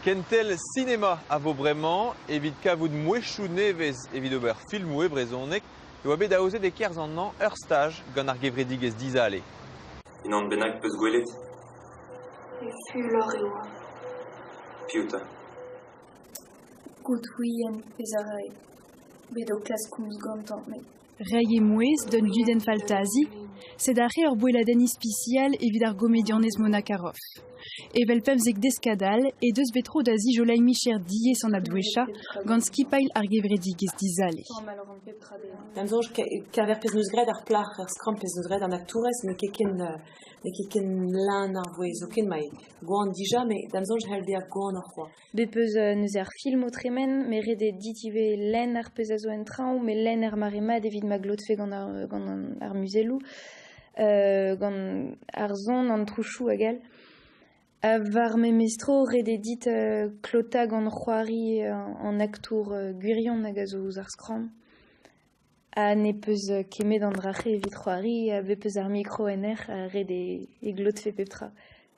Kentel sinema a vo bremañ evit kavout mouezhioù nevez evit ober filmoù e brezhoneg e oa bet aozet e-kerzh an hañv ur staj gant ar gevredigezh Dizale. Unan bennak 'peus gwelet? Fulor e oa. Piv 'ta? Godwin ez a rae. Bet o klask komz gantañ met Reiñ emouez d'un gudenn faltazi, sed aze ur boelladenn ispisial evit ar gomedianez Mona Karoff. Evel pemzek deskadal he deus bet tro da zijoleiñ micher diaes an adwesha gant skipailh ar gevredigezh Dizale. D'am soñj, keñver pezh 'neus graet ar plac'h, ar skramm pezh 'neus graet an aktourez, n'eo ket ken n'eo ket ken leun ar vouezh zoken, mae gwan dija, met d'am soñj c'hell bezañ gwanoc'h kwa. Bet 'peus neuze ar film o tremen, met ret eo dit ivez lenn ar pezh a zo en traoñ, met lenn ar mare mat evit ma glotfe gant ar, gant ar muzelloù, gant ar son, an trouchoù hag all. War memes tro, ret eo dit klotañ gant c'hoari an aktour gwirion hag a zo ouzh ar skramm. Ha ne peus ket 'met an dra-se evit c'hoari, a bez peus ar mikro en hec'h, ret eo e glotfe pep tra.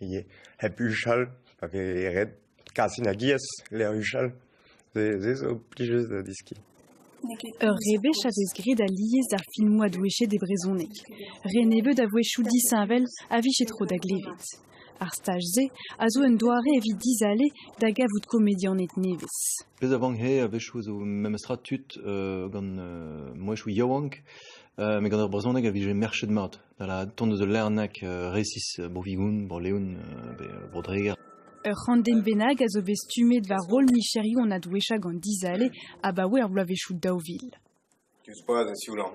ivez hep huchal pa vez ret kas inagiez lec'h huchal. Se zo plijus da deskiñ. Ur rebech a vez graet alies d'ar filmoù a-douechet e brezhoneg. Re nebeut a-wechoù disheñvel a vije tro da glevet. Ar staj-se a zo un doare evit dizale da gavout komedianed nevez. Pezh a vank-he a-wechoù zo memestra tud uh, gant uh, mouezhioù yaouank, uh, met gant ur brezhoneg a vije merchet mat. tont eus ul lerneg resis Bro-Vigoun, Bro-Leon, pe Bro-Dreger. Ur c'handenn bennak a zo bet stummet war roll micherioù an adwesha gant Dizale abaoe ar bloavezhioù daou vil. Diouzh boaz e sioulañ.